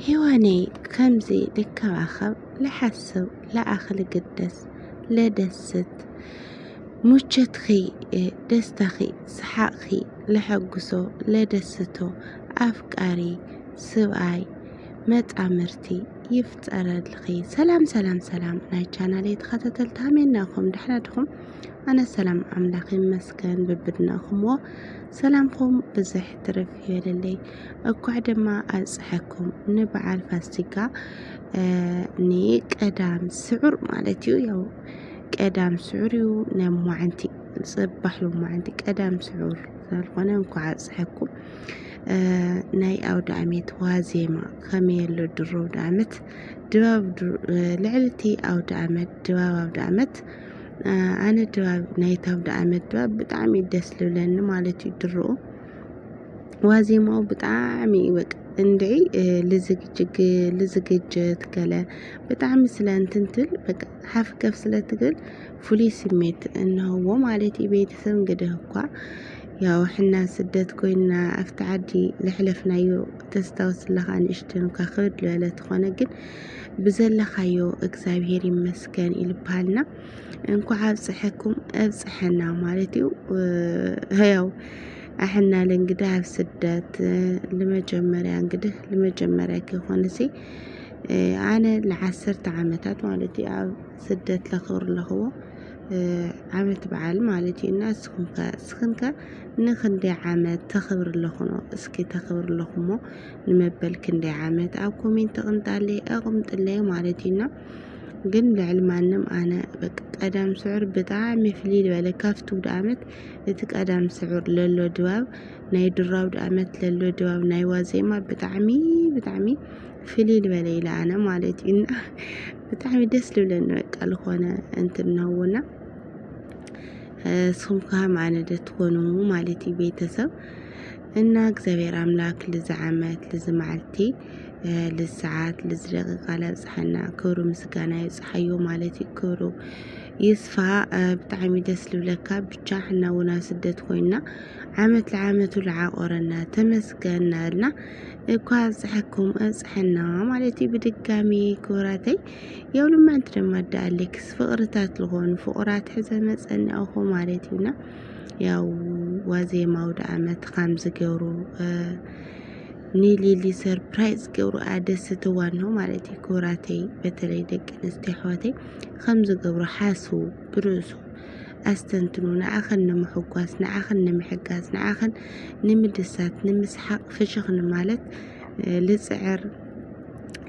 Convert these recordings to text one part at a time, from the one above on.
ሂወነይ ከምዚ ልከባኸብ ልሓስብ ልኣኽ ልግደስ ለደስት ሙቸትኺ ደስታኺ ሰሓቕኺ ለሐጉሶ ለደስቶ ኣፍቃሪ ስብኣይ መጣምርቲ ይፍጠረልኺ። ሰላም ሰላም ሰላም ናይ ቻናል ተኸታተልቲ ሃመና ኹም ድሕና ድኹም ኣነ ሰላም ኣምላኽ ይመስገን ብብድናኹምዎ ሰላምኹም ብዝሕ ትርፍ ይበለለይ። እኳዕ ድማ ኣብፀሐኩም ንበዓል ፋሲካ ንቀዳም ስዑር ማለት እዩ ያው ቀዳም ስዑር እዩ ነማዓንቲ ፅባሕ ሎማዓንቲ ቀዳም ስዑር ስለዝኾነ እንኳዕ ኣብፀሐኩም ናይ ኣውደ ኣመት ዋዜማ ከመይ ኣሎ ድሮ ኣውደ ኣመት ድባብ ልዕሊ እቲ ኣውደ ኣመት ድባብ ኣውደ ኣመት ኣነ ድባብ ናይቲ ኣውደ ኣመት ድባብ ብጣዕሚ ደስ ልብለኒ ማለት እዩ ድሮ ዋዜማው ብጣዕሚ እዩ በቃ እንድዒ ልዝግጅግ ልዝግጅት ገለ ብጣዕሚ ስለ እንትንትል በቃ ሓፍ ከፍ ስለ ትብል ፍሉይ ስሜት እንሀዎ ማለት እዩ። ቤተሰብ እንግዲህ እኳ ያው ሕና ስደት ኮይና ኣብቲ ዓዲ ለሕለፍናዮ ተስታውስ ኣለኻ ንእሽተን እኳ ክብድ ዝበለ ተኾነ ግን ብዘለኻዮ እግዚኣብሄር ይመስገን እዩ ልበሃልና። እንኳዕ ኣብፀሐኩም ኣብፀሐና ማለት እዩ። ያው ኣሕና ለእንግዲህ ኣብ ስደት ንመጀመርያ እንግዲህ ንመጀመርያ ከይኮነ ሲ ኣነ ንዓሰርተ ዓመታት ማለት እዩ ኣብ ስደት ለኽብር ኣለኽዎ ዓመት በዓል ማለት እዩ እና እስኹም ከ እስኽን ከ ንክንደይ ዓመት ተኽብር ኣለኹኖ እስኪ ተኽብር ኣለኹሞ ንመበል ክንደይ ዓመት ኣብ ኮሜንት ኣቕምጣለይ ኣቕምጥለይ ማለት እዩና ግን ልዕሊ ማንም ኣነ በቃ ቀዳም ስዑር ብጣዕሚ ፍልይ ዝበለ ካብቲ ውድ ኣመት እቲ ቀዳም ስዑር ለሎ ድባብ ናይ ድሮ ኣውድ ኣመት ለሎ ድባብ ናይ ዋዜማ ብጣዕሚ ብጣዕሚ ፍልይ ዝበለ ኢለ ኣነ ማለት እዩ እና ብጣዕሚ ደስ ልብለኒ በቃ ዝኾነ እንትን ነውና ስኹም ከሃም ኣነ ደ ትኾኑ ማለት እዩ ቤተሰብ እና እግዚኣብሔር ኣምላክ ልዚ ዓመት ልዚ መዓልቲ ልዚ ሰዓት ልዚ ደቂቃ ላብፅሐና ክብሩ ምስጋና ይብፅሓዮ ማለት እዩ ክብሩ ይስፋ ብጣዕሚ ደስ ልብለካ ብቻ ሕና እውን ኣብ ስደት ኮይና ዓመት ለዓመቱ ለዓቆረና ተመስገን ናበልና እኳ ኣብፅሐኩም ኣብፅሐና ማለት እዩ ብድጋሚ ክብራተይ የው ልማንቲ ድማ ዳኣሌክስ ፍቅርታት ልኾኑ ፍቁራት ሕዘ መፀናኹ ማለት እዩና ያው ዋዜማ ኣውደኣመት ከም ዝገብሩ ንሊሊ ሰርፕራይዝ ገብሩ ኣደስ ትዋኖ ማለት እዩ ክብራተይ በተለይ ደቂ ኣንስትዮ ኣሕዋተይ ከም ዝገብሩ ሓስቡ ብርእሱ ኣስተንትኑ ንዓኸን ንምሕጓስ ንዓኸን ንምሕጋዝ ንዓኸን ንምድሳት ንምስሓቕ ፍሽኽ ንማለት ልፅዕር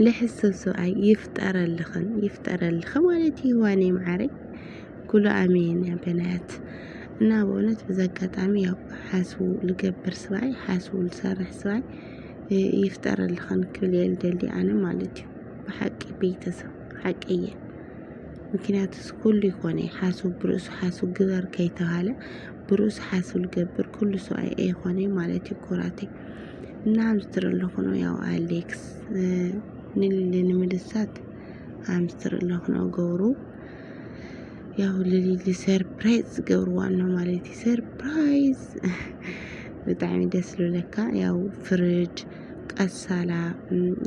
ልሕሰብ ሰብኣይ ይፍጠረልኽን ይፍጠረልኽን ማለት እዩ ዋነይ መዓረይ ኩሉ ኣሜን ያ በናያት እና በእውነት በዚ ኣጋጣሚ ያው ሓስቡ ልገብር ስባይ ሓስቡ ልሰርሕ ስባይ ይፍጠረልኽን ክብል እየ ልደሊ ኣነ ማለት እዩ ብሓቂ ቤተሰብ ሓቂ እየ ምክንያቱስ ኩሉ ይኮነ ሓስቡ ብርእሱ ሓስቡ ግበር ከይተባሃለ ብርእሱ ሓስቡ ልገብር ኩሉ ሰብኣይ ኣይኮነ ማለት እዩ ኩራቴ እና ኣምስትር ኣለኹ ነው ያው ኣሌክስ ንልንምልሳት ኣምስትር ኣለኹ ነው ገብሩ ያው ልሊሊ ሰርፕራይዝ ዝገብርዋ ኣሎ ማለት እዩ ሰርፕራይዝ ብጣዕሚ ደስ ዝብለካ ያው ፍርጅ ቀሳላ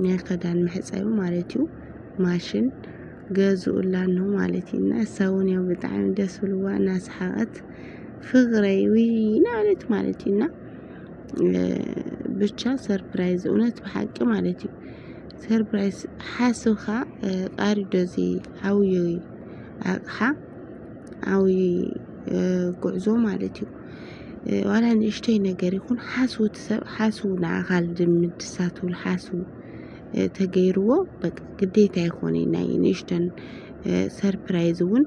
ናይ ክዳን መሕፀቢ ማለት እዩ ማሽን ገዝኡላ ኣሎ ማለት እዩ እና እሳ እውን ያው ብጣዕሚ ደስ ብልዋ እናሰሓቐት ፍቕረይ ውይ እናበለት ማለት እዩ እና ብቻ ሰርፕራይዝ እውነት ብሓቂ ማለት እዩ ሰርፕራይዝ ሓስብካ ቃል ዶ እዚ ዓብዪ ኣቕሓ ዓብዪ ጉዕዞ ማለት እዩ። ዋላ ንእሽተይ ነገር ይኹን ሓስቡ እቲ ሰብ ሓስቡ ንዓኻ ልድምድ ሳትብል ሓስቡ ተገይርዎ በቃ ግዴታ ይኾነ ናይ ንእሽተን ሰርፕራይዝ እውን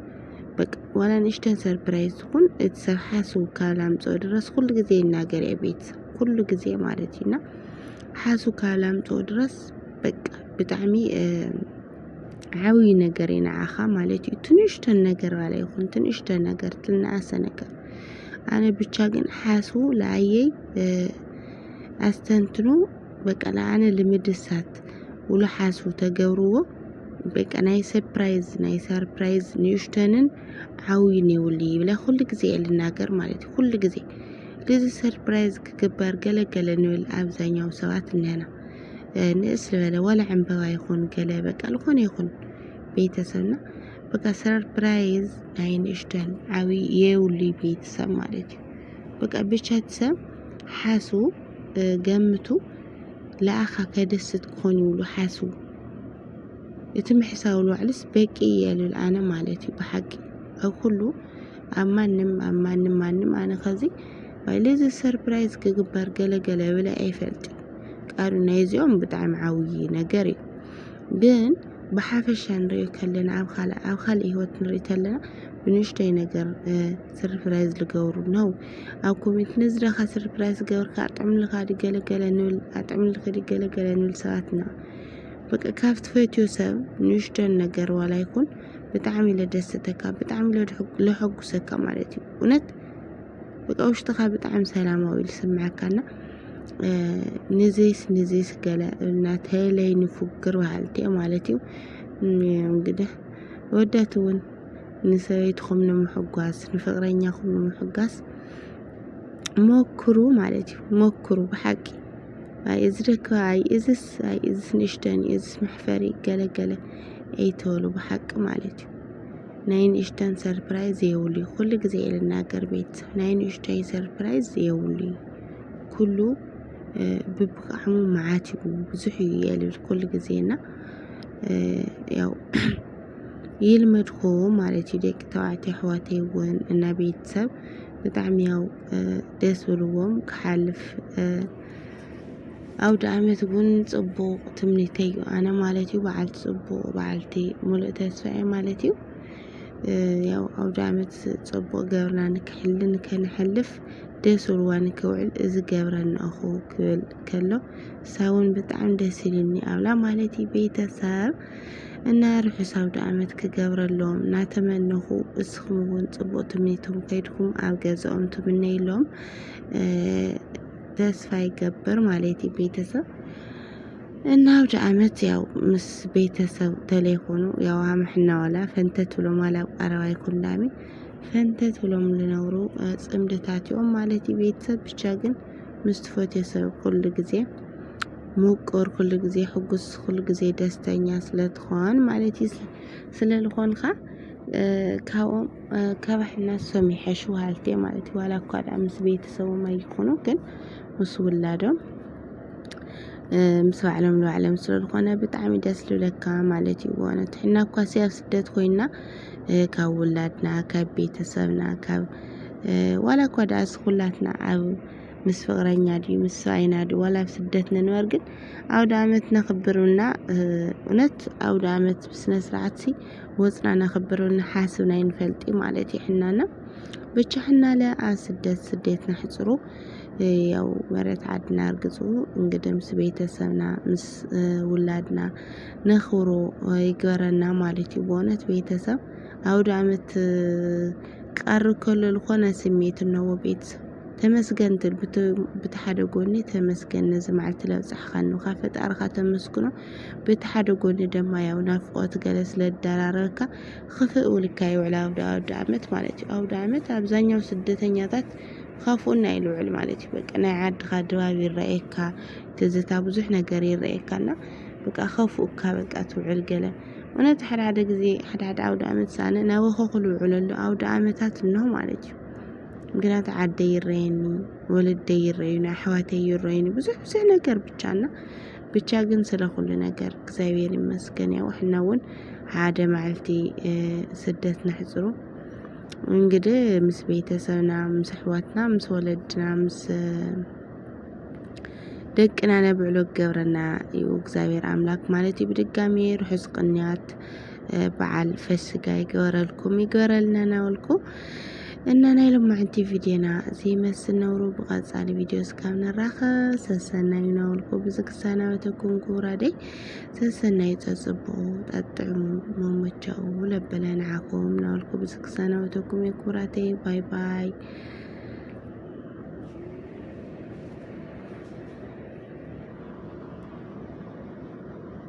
በቃ ዋላ ንእሽተን ሰርፕራይዝ ትኹን እቲ ሰብ ሓስቡ ካብ ላምፅኦ ድረስ ኩሉ ግዜ ይናገር እየ ቤተሰብ ኩሉ ግዜ ማለት እዩና ሓስቡ ካብ ላምፅኦ ድረስ በቃ ብጣዕሚ ዓብዪ ነገር እዩ ንዓኻ ማለት እዩ ትንሽተን ነገር ባላ ይኹን ትንሽተ ነገር ትናኣሰ ነገር ኣነ ብቻ ግን ሓሱ ለኣየይ ኣስተንትኑ በቃ ለኣነ ልምድሳት ውሉ ሓሱ ተገብርዎ በቃ ናይ ሰፕራይዝ ናይ ሰርፕራይዝ ንእሽተንን ዓብዪን የብሉ ይብለ ኩሉ ግዜ እየ ልናገር ማለት እዩ ኩሉ ግዜ ግዚ ሰርፕራይዝ ክግበር ገለገለ ንብል ኣብዛኛው ሰባት እኒሀና ንእስ ዝበለ ዋላ ዕምበባ ይኹን ገለ በቃ ዝኾነ ይኹን ቤተሰብና በቃ ሰርፕራይዝ ናይ ንእሽተን ዓብዪ የብሉይ ቤተሰብ ማለት እዩ። በቃ ብቻ እቲ ሰብ ሓሱ ገምቱ ለኣኻ ከደስት ክኾን ይብሉ ሓሱ እቲ ምሕሳው ልዋዕልስ በቂ የልል ኣነ ማለት እዩ ብሓቂ ኣብ ኩሉ ኣብ ማንም ኣብ ማንም ማንም ኣነ ከዚ ልዚ ሰርፕራይዝ ክግበር ገለ ገለ ብለ ኣይፈልጥን ቃሉ ናይዚኦም ብጣዕሚ ዓብዪ ነገር እዩ ግን ብሓፈሻ ንሪኦ ከለና ኣብ ካልእ ኣብ ካልእ ህይወት ንርኢ ከለና ብንእሽተይ ነገር ሰርፕራይዝ ዝገብሩ ነው ኣብ ኮሜንት ንዝደኻ ሰርፕራይዝ ገብርካ ኣጥዕምልኻ ዲ ገለገለ ንብል ኣጥዕምልኺ ዲ ገለገለ ንብል ሰባት ኢና በቃ ካብ ትፈትዮ ሰብ ንእሽተን ነገር ዋላ ይኹን ብጣዕሚ ለደሰተካ ብጣዕሚ ለሐጉሰካ ማለት እዩ እውነት በቃ ውሽጥኻ ብጣዕሚ ሰላማዊ ኢሉ ስምዐካና ንዚስ ንዚስ ገለ እናተለይ ንፉግር በሃልቲ እዮም ማለት እዩ እንግዲህ ወዳት እውን ንሰበይትኹም ንምሕጓስ ንፍቅረኛኹም ንምሕጋስ ሞክሩ ማለት እዩ ሞክሩ ብሓቂ ኣይ እዚ ደካ ኣይ እዝስ ኣይ እዝስ ንእሽተን እዝስ መሕፈሪ ገለገለ ኣይተበሉ ብሓቂ ማለት እዩ ናይ ንእሽተን ሰርፕራይዝ የብሉይ ኩሉ ግዜ እየ ልናገር ቤት ናይ ንእሽተይ ሰርፕራይዝ የብሉይ ኩሉ ብብቅዓሙ መዓት እዩ ብዙሕ እዩ እየ ልብል ኩሉ ግዜ እና ያው ይልመድኮ ማለት እዩ ደቂ ተባዕትዮ ኣሕዋተይ እውን እና ቤተሰብ ብጣዕሚ ያው ደስ ብልዎም ክሓልፍ ኣውድኣመት ውን ጽቡቅ ትምኒተይ ዩ ኣነ ማለት ዩ በዓልቲ ጽቡቅ በዓልቲ ሙሉእ ተስፋ እየ ማለት ዩ ያው ኣውድኣመት ጽቡቅ ገብርና ንክሕሊ ንከነሕልፍ ደስ ብልዋ ንክውዕል እዚ ገብረና እኹ ክብል ከሎ ሳውን ብጣዕሚ ደስ ኢልኒ ኣብላ ማለት ዩ ቤተሰብ እና ርሑስ ኣውድኣመት ክገብረሎም እናተመነኹ እስኹም ውን ጽቡቅ ትምኒትኩም ከይድኩም ኣብ ገዝኦም ትምነይሎም ተስፋ ይገብር ማለት እዩ ቤተሰብ እና አውደ ዓመት ያው ምስ ቤተሰብ ተለይኮኑ ያው አምሕና ዋላ ፈንተት ብሎም ዋላ ኣብ ቀረባ ይኩን ዳሚ ፈንተት ብሎም ዝነብሩ ፅምድታት እዮም ማለት እዩ ቤተሰብ ብቻ ግን ምስ ትፈትዮ ሰብ ኩሉ ግዜ ምቁር ኩሉ ግዜ ሕጉስ ኩሉ ግዜ ደስተኛ ስለትኾን ማለት እዩ ስለልኾንካ ካብኦም ከበሕና እሶም ይሐሹ ሃልቴ ማለት እዩ። ዋላ እኳ ድኣ ምስ ቤተሰቦም ኣይኹኑ ግን ምስ ውላዶም ምስ ባዕሎም ንባዕሎም ስለ ዝኾነ ብጣዕሚ ደስ ልብለካ ማለት እዩ። ብእውነት ሕና እኳ ሲ ኣብ ስደት ኮይና ካብ ውላድና ካብ ቤተሰብና ካብ ዋላ እኳ ድኣ ስኩላትና ኣብ ምስ ፍቅረኛ ድዩ ምስ ሰብኣይና ድዩ ዋላ ኣብ ስደት ንንበር ግን ኣውደ ኣመት ነኽብርና እውነት ኣውደ ኣመት ብስነ ስርዓት ሲ ወፅና ነክብር ንሓስብ ናይ ንፈልጢ ማለት ይሕናና ብቻ ሕናለ ስደት ስደት ናሕፅሩ ያው መረት ዓድና እርግፁ እንግዲህ ምስ ቤተሰብና ምስ ውላድና ነኽብሮ ይግበረና ማለት እዩ። በእውነት ቤተሰብ አውደ ዓመት ቃር ከሎ ዝኾነ ስሜት እነዎ ቤተሰብ ተመስገን ትብል ብቲ ሓደ ጎኒ ተመስገን ነዚ መዓልቲ ለብፅሕኻኒ ካብ ፈጣርኻ ተመስግኖ በቲ ሓደ ጎኒ ደማ ያው ናፍቆት ገለ ስለ ዝደራረበካ ክፍእ ውልካ ይውዕል ኣብ ኣውዳኣመት ማለት እዩ ኣውዳኣመት ኣብዛኛው ስደተኛታት ካፉኡና እዩ ልውዕል ማለት እዩ በቃ ናይ ዓድኻ ድባብ ይረኣየካ ትዝታ ብዙሕ ነገር ይረኣየካና በቃ ከፉኡካ በቃ ትውዕል ገለ እውነት ሓደ ሓደ ግዜ ሓደ ሓደ ኣውደ ኣመት ሳነ ናብ ኸኹ ልውዕል ኣሎ ኣውደ ኣመታት እኖ ማለት እዩ ምክንያቱ ዓደ ይረየኒ ወለደ ይረዩኒ ኣሕዋተ ይረዩኒ ብዙሕ ብዙሕ ነገር ብቻና ብቻ ግን ስለ ኩሉ ነገር እግዚኣብሔር ይመስገን ያው ሕና እውን ሓደ መዓልቲ ስደት ነሕፅሩ እንግዲህ ምስ ቤተሰብና ምስ ኣሕዋትና ምስ ወለድና ምስ ደቅና ነብዕሎ ገብረና እዩ እግዚኣብሔር ኣምላክ ማለት እዩ ብድጋሚ ርሑስ ቅንያት በዓል ፈስጋ ይገበረልኩም ይገበረልና ናበልኩ እና ናይ ሎማዕንቲ ቪድዮና ዘይመስል ነብሩ ብቐፃሊ ቪድዮ እስካብ ንራኸ ሰሰናዩ ናበልኩ ብዚ ክሰናበተኩም ክቡራደይ ሰሰናዩ ፀፅብቑ ጠጥዕሙ መሞቻኡ ለበለ ንዓኹም ናበልኩ ብዚ ክሰናበተኩም እየ ክቡራተይ ባይ ባይ